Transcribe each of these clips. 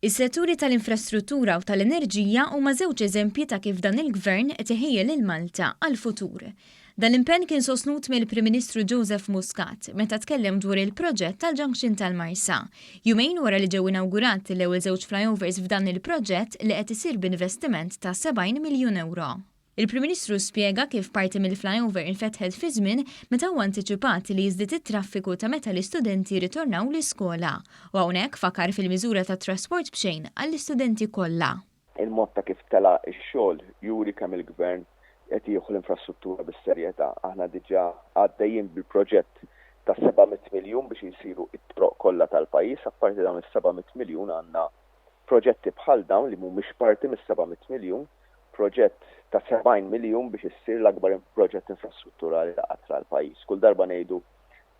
Is-setturi tal-infrastruttura u tal-enerġija huma żewġ eżempji ta' kif dan il-Gvern qed iħejji lil Malta għall-futur. Dan l-impenn kien sostnut mill-Prim Ministru Joseph Muscat meta tkellem dwar il-proġett tal-Junction tal-Marsa, jumejn wara li ġew inawgurati l-ewwel żewġ flyovers f'dan il-proġett li qed isir b'investiment ta' 70 miljun ewro. Il-Prim Ministru spjega kif parti mill-flyover infetħet fi żmien meta huwa antiċipat li jiżdied it-traffiku ta' meta l-istudenti jirritornaw l-iskola u hawnhekk fakar fil-miżura ta' trasport b'xejn għall-istudenti kollha. Il-mod ta' kif tela' x-xogħol juri kemm il-Gvern qed jieħu l-infrastruttura bis-serjetà. Aħna diġà għaddejjin bil-proġett ta' 700 miljun biex isiru t-toroq kollha tal-pajjiż. Apparti dawn is-700 miljun għandna Proġetti bħal dawn li mhumiex parti mis-700 miljun, proġett ta' 70 miljun biex issir l-akbar proġett infrastrutturali ta' qatt ra l-pajjiż. Kull darba ngħidu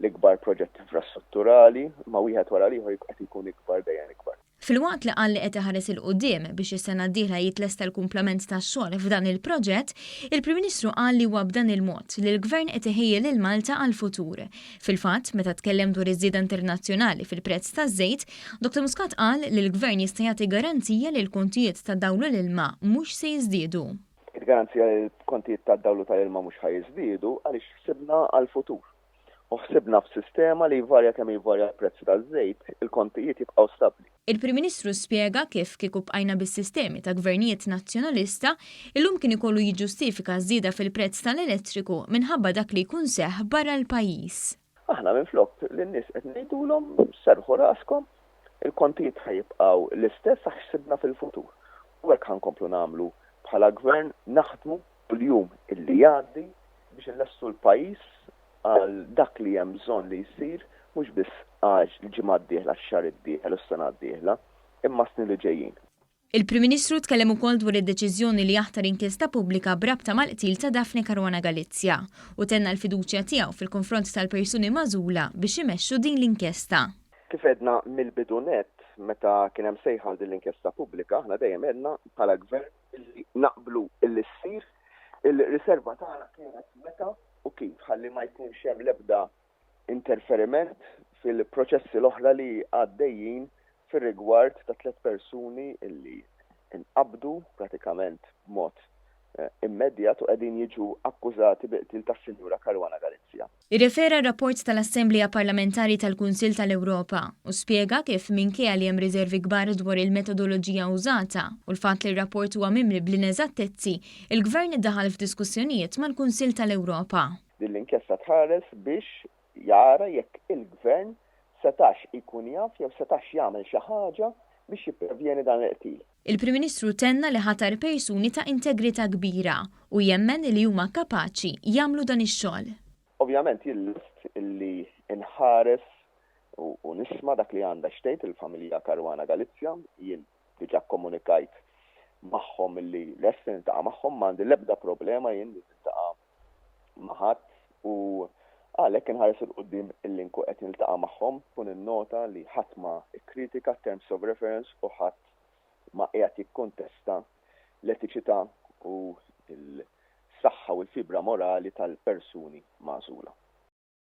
l-ikbar proġett infrastrutturali, imma wieħed wara l-ieħor qed ikun ikbar dejjem ikbar. Filwaqt li qal li qed iħares 'il quddiem biex is-sena d-dieħla jitlesta l-kumplament tax-xogħol f'dan il-proġett, il-Prim Ministru qal li huwa b'dan il-mod li l-Gvern qed iħejji lil Malta għall-futur. Fil-fatt, meta tkellem dwar iż-żieda internazzjonali fil-prezz taż-żejt, Dr Muscat qal li l-Gvern jista' jagħti garanzija li l-kontijiet tad-dawl u l-ilma mhux se jiżdiedu. Għidt garanzija li l-kontijiet tad-dawl u tal-ilma mhux ħa jiżdiedu għaliex ħsibna għall-futur. U ħsibna f'sistema li jvarja kemm jvarja l-prezz taż-żejt, il-kontijiet jibqgħu stabbli. Il-Prim Ministru spjega kif kieku bqajna bis-sistemi ta' Gvernijiet Nazzjonalista, illum kien ikollu jiġġustifika ż-żieda fil-prezz tal-elettriku minħabba dak li jkun seħħ barra l-pajjiż. Aħna minflok lin-nies qed ngħidulhom serrħu raskom, il-kontijiet ħa jibqgħu l-istess sa ħsibna fil-futur. U hekk ħa nkomplu nagħmlu bħala Gvern, naħdmu kull jum li jgħaddi biex inlestu l-pajjiż għal dak li hemm bżonn li jsir mhux biss għax l-ġimgħa d-dieħla, x-xahar d-dieħel u s-sena d-dieħla, imma s-snin li ġejjin. Il-Prim Ministru tkellem ukoll dwar id-deċiżjoni li jaħtar inkjesta pubblika b'rabta mal-qtil ta' Daphne Caruana Galizia u tenna l-fiduċja tiegħu fil-konfront tal-persuni magħżula biex imexxu din l-inkjesta. Kif għedna mill-bidu nett meta kien hemm sejħa għal din l-inkjesta pubblika, aħna dejjem għedna bħala Gvern illi naqblu illi ssir, il-riserva tagħna kienet meta u kif ħalli ma jkunx hemm l-ebda interferiment fil-proċessi l-oħra li għaddejjin fir-rigward ta' tliet persuni illi nqabdu pratikament b'mod eh, immedjat u qegħdin jiġu akkużati bi qtil tas-Sinjura Caruana Galizia. Irrefera r-rapport tal-Assemblea Parlamentari tal-Kunsill tal-Ewropa u spjega kif minkejja li hemm riżervi kbar dwar il-metodoloġija użata u l-fatt li r-rapport huwa mimli bl-ineżattezzi, il-Gvern daħal f'diskussjonijiet mal-Kunsill tal-Ewropa. Din l-inkjesta tħares biex jara jekk il-Gvern setax ikun jaf jew setax jagħmel xi ħaġa biex jipprevjeni dan il-qtil. Il-Prim Ministru tenna li ħatar persuni ta' integrità kbira u jemmen li huma kapaċi jagħmlu dan ix-xogħol. Ovvjament jien lest li nħares u nisma' dak li għandha x'tgħid il-familja Caruana Galizia. Jien diġà kkomunikajt magħhom li lest li niltaqa' magħhom, ma għandi l-ebda problema jien li niltaqa' ma' ħadd u għalhekk inħares 'il quddiem illi nkun qed niltaqa' magħhom u ninnota li ħadd ma kkritika t-terms of reference u ħadd ma qiegħed jikkontesta l-etiċità u l-saħħa u l-fibra morali tal-persuni magħżula.